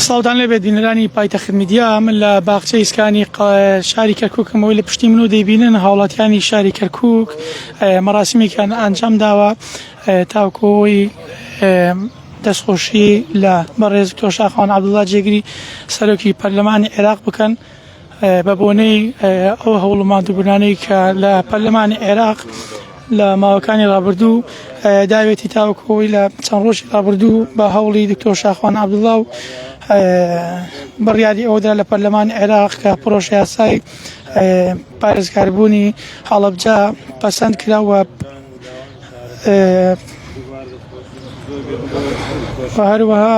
ساڵتان لەبێت بینەرانی پایتەخت میدیا من لە باخچە ئیسکانی شاری کەرککەمەوەی لە پشتی من و دەیبینن هاوڵاتیانی شاری کەرکک مەراسیمێکیان ئەنجام داوە تاوکۆی دەستخۆشی لە بەڕێز تۆشاخوان عبدڵا جێگری سەرۆکی پەرلەمانی عێراق بکەن. بە بۆنەی ئەو هەوڵ و ماندووبوونانەی کە لە پەرلەمانی عێراق لە ماوەکانی ڕابردوو داوێتی تاوکۆی لە چەند ڕۆژی ڕابردوو بە هەوڵی دکتۆر شاخوان عبدڵاو بڕیاری ئەودا لە پەرلەمان عێراق کە پرۆشیاسای پارێزکاربوونی هەڵبجا پەسەند کراوە هەروەها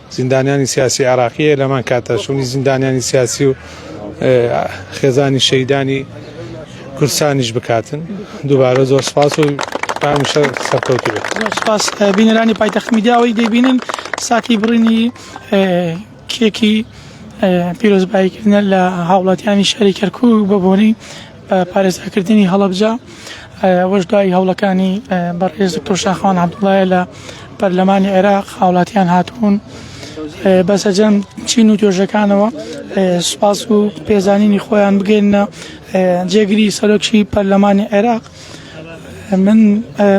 زیندانیانی سیاسی عێراقی هەیە لەمان کاتە شوونی زیندانیانی سیاسی و خێزانی شەیدانی کورسانیش بکاتن دووبارە زۆر سپاس و هەمیشە سەرکەوتی بێت سپاس بینەرانی پایتەخت میدیاوەی دەبینن ساتی بڕینی کێکی پیرۆزباییکردە لە هاوڵاتیانی شاری کەرکوو بە بۆنەی پارێزگاکردنی هەڵەبجە ئەوەش دوای هەوڵەکانی بەڕێز دکتۆر شاخوان عەبدوڵڵایە لە پەرلەمانی عێراق هاوڵاتیان هاتبوون بە سەجەم چین و توێژەکانەوە سوپاس و پێزانینی خۆیان بگەینە جێگری سەرۆکی پەرلەمانی عێراق من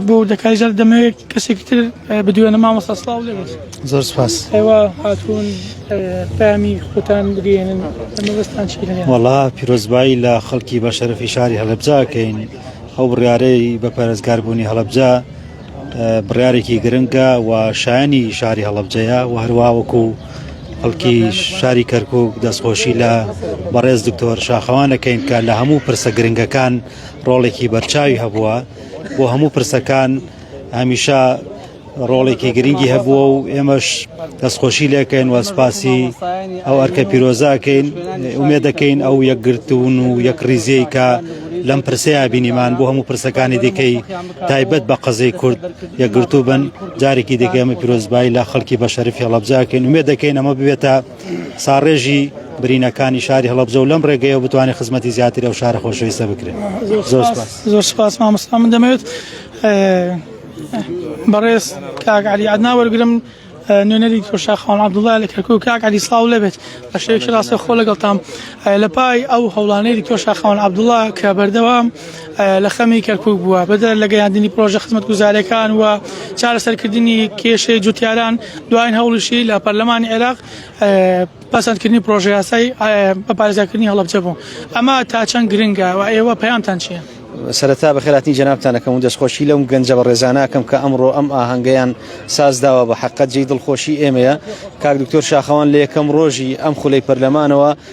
بۆ دەکای جار دەمەوێت کەسێکی تر بدوێنە مامۆستا سلااو لێ زۆر سپاس ئێوە هاتوون پامی خۆتان بگەێنن ئەمەستان چی وڵا پیرۆزبایی لە خەڵکی بە شەرفی شاری هەڵبجاکەین ئەو بڕارەی بە پارێزگاربوونی هەڵبجا بڕارێکی گرنگە و شایانی شاری هەڵبجەیە و هەروواوەکو و خەڵکی شاری کەرکک دەستخۆشی لە بەڕێز دکتۆر شاخەوانەکەین کە لە هەموو پرسە گرنگەکان ڕۆڵێکی بەرچاوی هەبووە بۆ هەموو پرسەکان هەمیشە ڕۆڵێکی گرنگی هەبووە و ئێمەش دەستخۆشی لەکەین وە سپاسی ئەو ئەرکە پیرۆزاکەین ئومێ دەکەین ئەو یەکگرتون و یەک ریزیی کە لەم پرسەیە بینیمان بۆ هەموو پرسەکانی دیکەی تایبەت بە قەزەی کورد یەکگرتوو بن جارێکی دیکەمە پیرۆزبایی لە خەڵکی بە شەرفی هەڵبجاکەین ومێ دەکەین ئەمە ببێتە ساڕێژی برینەکانی شاری هەڵەبجە و لەم ڕێگەیەوە بتوانێت خزمەتی زیاتری ئەو شارە خۆشەویستە بکرێت زۆر سپاس مامۆستا من دەمەوێت بەڕێز کاک علی عدنا وەرگرم نوێنەری تۆشاخان عبدوڵای لە کەرکک کاک علی سلااو لەبێت بە شێوکی ڕاستە خۆ لەگەڵتام لە پای ئەو هەوڵانەی تۆشاخان عبدوڵا کە بەردەوام لە خەمی کەرکوک بووە بەدەر لە گەیاندنی پرۆژە خزمەتگوزارەکان و چارەسەرکردنی کێشەی جوتیاران دوایین هەوڵیشی لە پەرلەمانی عێراق پەسەندکردنی پرۆژە یاسای بە پارێزگاکردنی هەڵەبجە بوو ئەمە تا چەند گرنگە و ئێوە پەیامتان چییە؟ سەرەتا بەخێراتنی جەنابتانەکەم و دەستخۆشی لەم گەنجە بە ڕێزاناکەم کە ئەمڕۆ ئەم ئاهەنگیان سازداوە بە حقت جێی دڵخۆشی ئێمەیە کاک دکتۆر شاخەوان لە یەکەم ڕۆژی ئەم خولەی پەرلەمانەوە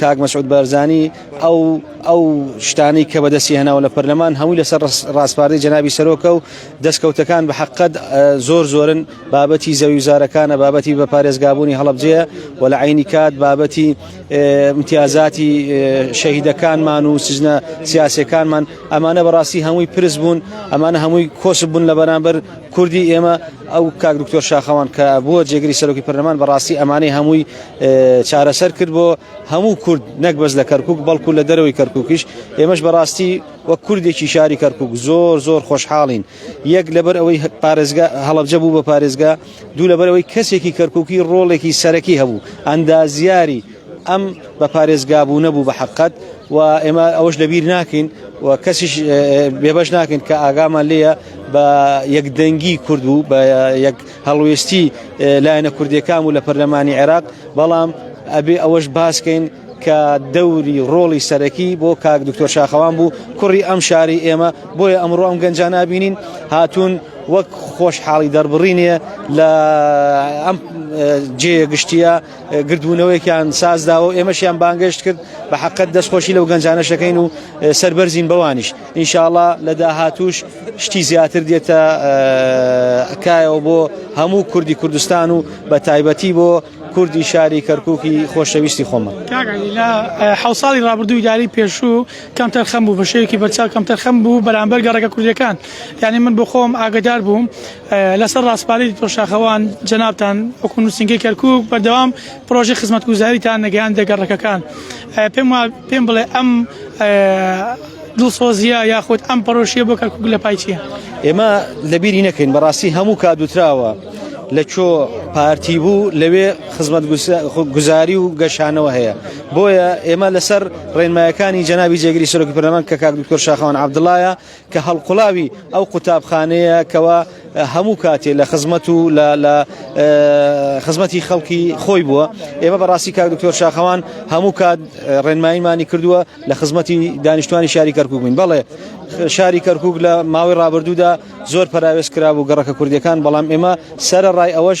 کاک مەسعود بارزانی ئەو ئەو شتانەی کە بەدەستی هەناوە لە پەرلەمان هەمووی لەسەر ڕاستپاردەی جەنابی سەرۆکە و دەستکەوتەکان بە حقت زۆر زۆرن بابەتی زەویوزارەکانە بابەتی بە پارێزگابوونی هەڵبجەیە و لە عینی کات بابەتی امتیازاتی شەهیدەکانمان و سزنە سیاسەکانمان ئەمانە بەڕاستی هەمووی پرس بوون ئەمانە هەمووی کۆس بوون لە بەرامبەر کوردی ئێمە ئەو کاک دکتۆر شاخەوان کە بووە جێگری سەرۆکی پەرلەمان بەڕاستی ئەمانەی هەمووی چارەسەر کرد بۆ هەموو کورد نەک بەس لە کەرکک بەڵکو لە دەرەوەی کەرککیش ئێمەش بەڕاستی وەک کوردێکی شاری کەرکک زۆر زۆر خۆشحاڵین یەک لەبەر ئەوەی پارێزگا هەڵبجە بوو بە پارێزگا دوو لەبەرەوەی کەسێکی کەرککی ڕۆڵێکی سەرەکی هەبوو ئەندازیاری ئەم بە پارێزگابوو نەبوو بە حقت و ئێمە ئەوەش لەبیر ناکەین و کەسیش بێبش ناکەین کە ئاگامان لێە بە یەکدەنگی کورد بوو بە یەک هەڵوێستی لایەنە کوردیەکان و لە پەرلەمانی عێراق بەڵام ئەبێ ئەوەش باسکەین کە دەوری ڕۆڵی سەرەکی بۆ کاک دکتۆر شاخەوان بوو کوڕی ئەم شاری ئێمە بۆیە ئەمڕۆ ئەم گەنجان نبینین هاتوون وەک خۆشحاڵی دەربڕینێ لە ئەم جێ گشتیە گردبوونەوەیان سازداوە ئێمەشیان بانگەشت کرد بە حقت دەستخۆشی لەو گەنجانەشەکەین و سربەرزین بەوانیش ئینشاڵا لە داهاتووش شتی زیاتر دێتە کایەوە بۆ هەموو کوردی کوردستان و بە تایبەتی بۆ کوردی شاری کەرکووکی خۆشەویستی خۆمە لە حو ساڵی ڕابردووی داری پێشوو کەم تەرخەم بوو بەشەیەکی بەرچاو کەم تەرخەم بوو بەرامبەر گەڕەکە کوردیەکان یعنی من بۆ خۆم ئاگدار بووم لەسەر ڕاستپاری تۆشاخەوان جەنابان وەکو نووسنگی کەرکک بەردەوام پرۆژەی خزمەتگوزاریتان نەگەیاندە گەڕەکەکان پێم پێم بڵێ ئەم دڵسۆزیە یاخود ئەم پەرۆشیە بۆ کەکوک لە پای چیە ئێمە لەبیری نەکەین بەڕاستی هەموو کادوتراوە لە چۆ پارتی بوو لەوێ خزمەت گوزاری و گەشانەوە هەیە بۆیە ئێمە لەسەر ڕێنمایەکانی جەنابی جێگری سەرۆکی پەرلەمان کە کاک دکتۆر شاخەوان عبدڵایە کە هەڵقوڵاوی ئەو قوتابخانەیە کەوا هەموو کاتێ لە خزمەت و لە خزمەتی خەڵکی خۆی بووە ئێمە بەڕاستی کاک دکتۆر شاخەوان هەموو کات ڕێنماییمانی کردووە لە خزمەتی دانیشتوانی شاری کەرکک بووین بەڵێ شاری کەرکک لە ماوەی ڕابردوودا زۆر پراوێز کرا بوو گەڕەکە کوردەکان بەڵام ئێمە سەرە ڕای ئەوەش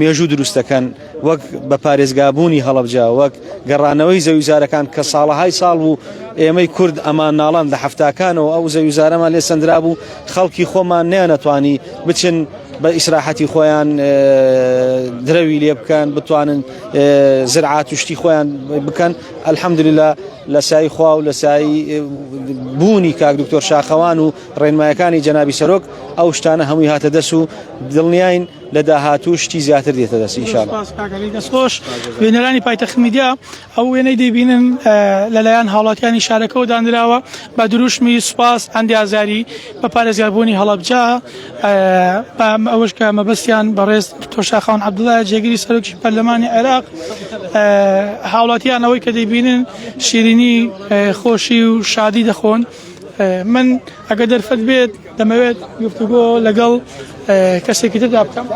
مێژوو دروست دەکەن وەک بە پارێزگابوونی هەڵەبجە وەک گەڕانەوەی زەویزارەکان کە ساڵەهای ساڵ بوو ئێمەی کورد ئەمان ناڵان لە هەفتاکانەوە ئەو زەویزارەمان لێ سندرا بوو خەڵکی خۆمان نیانەتوانی بچن بە ئیسراحەتی خۆیان درەوی لێ بکەن بتوانن زرعات و شتی خۆیان بکەن ئەلحەمدللا لە سای خوا و لە سای بوونی کاک دکتۆر شاخەوان و ڕێنمایەکانی جەنابی سەرۆک ئەو شتانە هەمووی هاتە دەس و دڵنیاین لە داهاتوو شتی زیاتر دێتە دەست ئینشاءاللە. سپاس کاک عەلی دەستخۆش. بینەرانی پایتەخت میدیا ئەو وێنەی دەیبینن لەلایەن هاوڵاتیانی شارەکەوە دانراوە بە دروشمی سوپاس ئەندی ئازاری بە پارێزگاربوونی هەڵەبجە بە ئەوەش کە مەبەستیان بەڕێز دکتۆر شاخەوان عەبدوڵڵایە جێگری سەرۆکی پەرلەمانی عێراق هاوڵاتیان ئەوەی کە دەیبینن شیرینی خۆشی و شادی دەخۆن. من ئەگەر دەرفەت بێت دەمەوێت گفتوگۆ لەگەڵ کەسێکی تردا بکەم.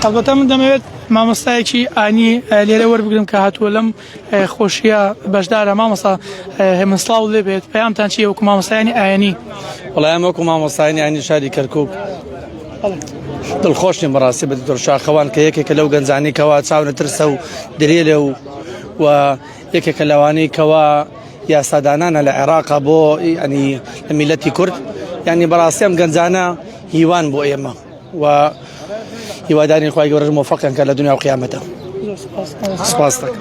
هەڵبەتە من دەمەوێت مامۆستایەکی ئانی لێرە وەربگرم کە هاتووە لەم خۆشیە بەشدارە مامۆستا هێمن سڵاو لێ بێت پەیامتان چیە وەکو مامۆستایانی ئاینی وڵای ئەمە وەکو مامۆستایانی ئاینی شاری کەرکک دڵخۆشین بەڕاستی بە دکتۆر شاخەوان کە یەکێکە لەو گەنجانی کەوا چاونە ترسە و درێ لێ و و یەکێکە لەوانەی کەوا یاسادانانە لە عێراقا بۆ ئەنی لە میلەتی کورد ینی بەڕاستی ئەم گەنجانە هیوان بۆ ئێمە و هیوادارین خخوای گەورەش مۆفقیان کە لە دنیا و قیامەتە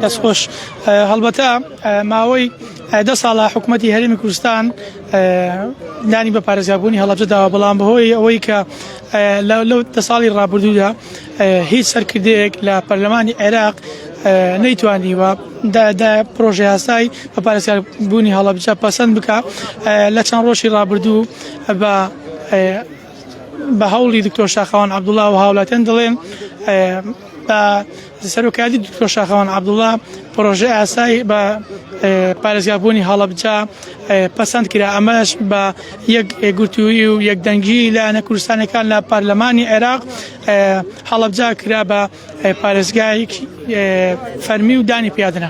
دەستخۆش هەڵبەتە ماوەی دە ساڵە حکوومەتتی هەرمی کوردستان نانی بە پارێزگابوونی هەڵبجە داوا بەڵام بەهۆی ئەوەی کە لەو دە ساڵی ڕابردوودا هیچ سەرکردەیەک لە پەرلەمانی عێراق نەیتوانیوە پرۆژه یاسای بە پارێزگار بوونی هەڵبجە پەسەند بکە لە چەند ڕۆژی ڕابردوو بە بە هەوڵی دکتۆر شاخەوان عەبدوڵا و هاوڵاتیان دەڵێن بە سەرۆکایەتی دکتۆر شاخەوان عەبدوڵا پرۆژە ئاسای بە پارێزگابوونی هەڵەبجا پەسەند کرا ئەمەش بە یەک گوتووی و یەکدەنگی لایەنە کوردستانەکان لە پارلەمانی عێراق هەڵەبجا کرا بە پارێزگایەکی فەرمی و دانی پیادرا.